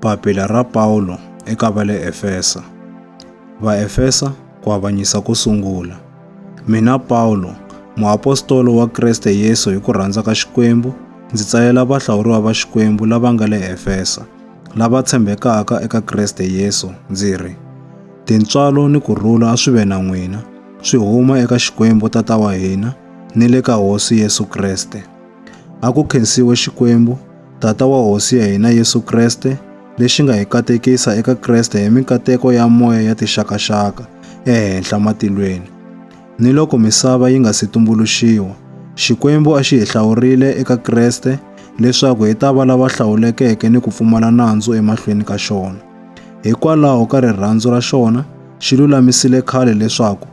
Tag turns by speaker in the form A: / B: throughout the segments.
A: Papila ra Pawulo eka va le Efesa Vaefesa ku avanyisa ko sungula Mina Pawulo, muapostolo wa Kriste Yesu hi ku rhandza ka Xikwembu, ndzi tsalela vahlawuriwa va Xikwembu lava nga le Efesa, lava tshembekaka eka Kriste Yesu, ndzi ri, Tintswalo ni ku rhula a swi ve na n'wina, swi huma eka Xikwembu Tata wa hina ni le ka Hosi Yesu Kriste. A ku khensiwe Xikwembu, Tata wa Hosi ya hina Yesu Kreste, lexi nga hi katekisa eka Kreste hi minkateko ya moya ya tixakaxaka ehenhla matilweni. Ni loko misava yi nga si tumbuluxiwa, Xikwembu a xi hi hlawurile eka Kreste leswaku hi ta va lava hlawulekeke ni ku pfumala nandzu emahlweni ka xona. Hikwalaho ka rirhandzu ra xona, xi lulamisile khale leswaku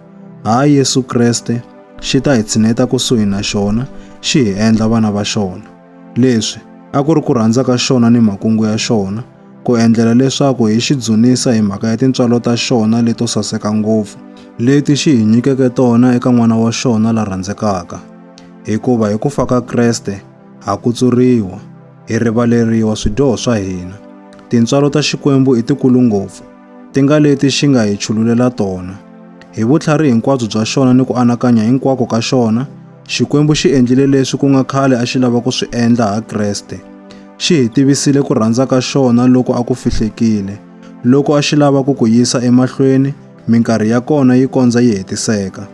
A: ha Yesu Kreste xi ta hi tshineta kusuhi na xona xi hi endla vana va xona. Leswi a ku ri ku rhandza ka xona ni makungu ya xona ku endlela leswaku hi xi dzunisa hi mhaka ya tintswalo ta xona leto saseka ngopfu leti xi hi nyikeke tona eka n'wana wa xona la rhandzekaka. Hikuva hi ku fa ka Kreste ha kutsuriwa, hi rivaleriwa swidyoho swa hina. Tintswalo ta Xikwembu i tikulu ngopfu ti nga leti xi nga hi chululela tona. Hi vutlhari hinkwabyo bya xona ni ku anakanya hinkwako ka xona, Xikwembu xi endlile leswi ku nga khale a xi lava ku swi endla ha Kreste. Xi hi tivisile ku rhandza ka xona loko a ku fihlekile, loko a xi lava ku ku yisa emahlweni minkarhi ya kona yi kondza yi hetiseka.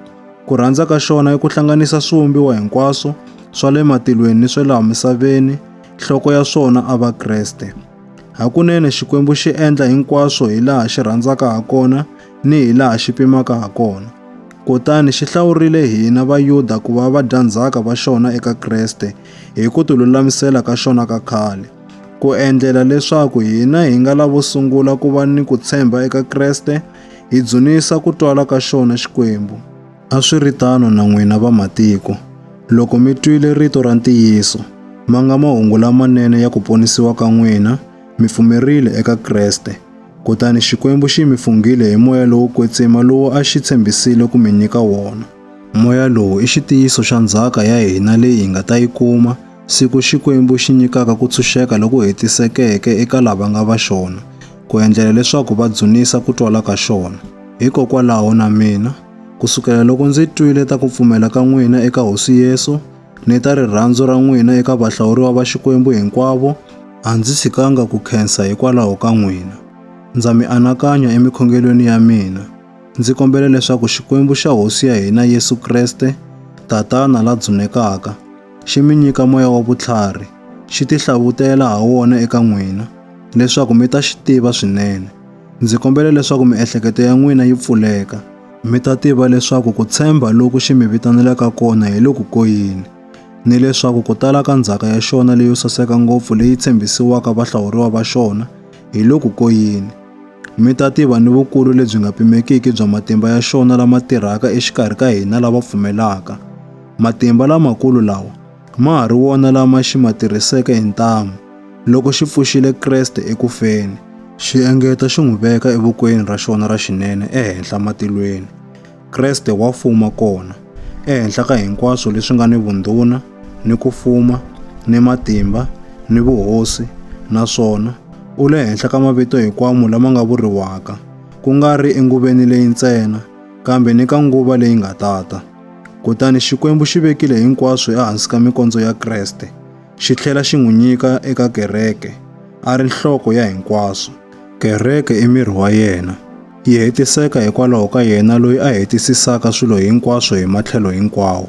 A: Ku rhandza ka xona i ku hlanganisa swivumbiwa hinkwaswo swa le matilweni ni swa laha misaveni, nhloko ya swona a va Kreste. Hakunene Xikwembu xi endla hinkwaswo hi laha xi rhandzaka ha kona ni hi laha xi pimaka ha kona. Kutani xi hlawurile hina Vayuda ku va vadyandzhaka va xona eka Kreste hi ku tilulamisela ka xona ka khale, ku endlela leswaku hina hi nga lavo sungula ku va ni ku tshemba eka Kreste hi dzunisa ku twala ka xona Xikwembu. A swi ri tano na n'wina vamatiko, loko mi twile rito ra ntiyiso, ma nga mahungu lamanene ya ku ponisiwa ka n'wina, mi pfumerile eka Kreste. Kutani Xikwembu xi mi funghile hi moya lowo kwetsima lowu a xi tshembisile ku mi nyika wona. Moya lowu i xitiyiso xa ndzhaka ya hina leyi hi nga ta yi kuma, siku Xikwembu xi nyikaka ku tshunxeka loku hetisekeke eka lava nga va xona, ku endlela leswaku va dzunisa ku twala ka xona. Hikokwalaho na mina, Ku sukela loko ndzi twile ta ku pfumela ka n'wina eka Hosi Yesu ni ta rirhandzu ra n'wina eka vahlawuriwa va Xikwembu hinkwavo, a ndzi tshikanga ku khensa hikwalaho ka n'wina. Ndza mi anakanya emikhongelweni ya mina, ndzi kombela leswaku Xikwembu xa Hosi ya hina Yesu Kreste, Tatana la dzunekaka, xi mi nyika moya wa vutlhari, xi tihlavutela ha wona eka n'wina, leswaku mi ta xi tiva swinene, Ndzi kombela leswaku miehleketo ya n'wina yi pfuleka, mi ta tiva leswaku ku tshemba loku xi mi vitanelaka kona hi loku ko yini, ni leswaku ku tala ka ndzhaka ya xona leyo saseka ngopfu leyi tshembisiwaka vahlawuriwa va xona hi loku ko yini. Mi ta tiva ni vukulu lebyi nga pimekiki bya matimba ya xona lama tirhaka exikarhi ka hina lava pfumelaka. Matimba lamakulu lawa! ma ha ri wona lama xi ma tirhiseke hi ntamu loko xi pfuxile Kreste eku feni, xi engeta xi n'wi veka evokweni ra xona ra xinene ehenhla matilweni. Kreste wa fuma kona, ehenhla ka hinkwaswo leswi nga ni vundhuna, ni ku fuma, ni matimba, ni vuhosi, naswona u le henhla ka mavito hikwamo lama nga vuriwaka, ku nga ri enguveni leyi ntsena, kambe ni ka nguva leyi nga tata. Kutani Xikwembu xi vekile hinkwaswo ehansi ka mikondzo ya Kreste, xi tlhela xi n'wi nyika eka kereke, a ri nhloko ya hinkwaswo. Kereke i miri wa yena, yi hetiseka hikwalaho ka yena loyi a hetisisaka swilo hinkwaswo hi matlhelo hinkwawo.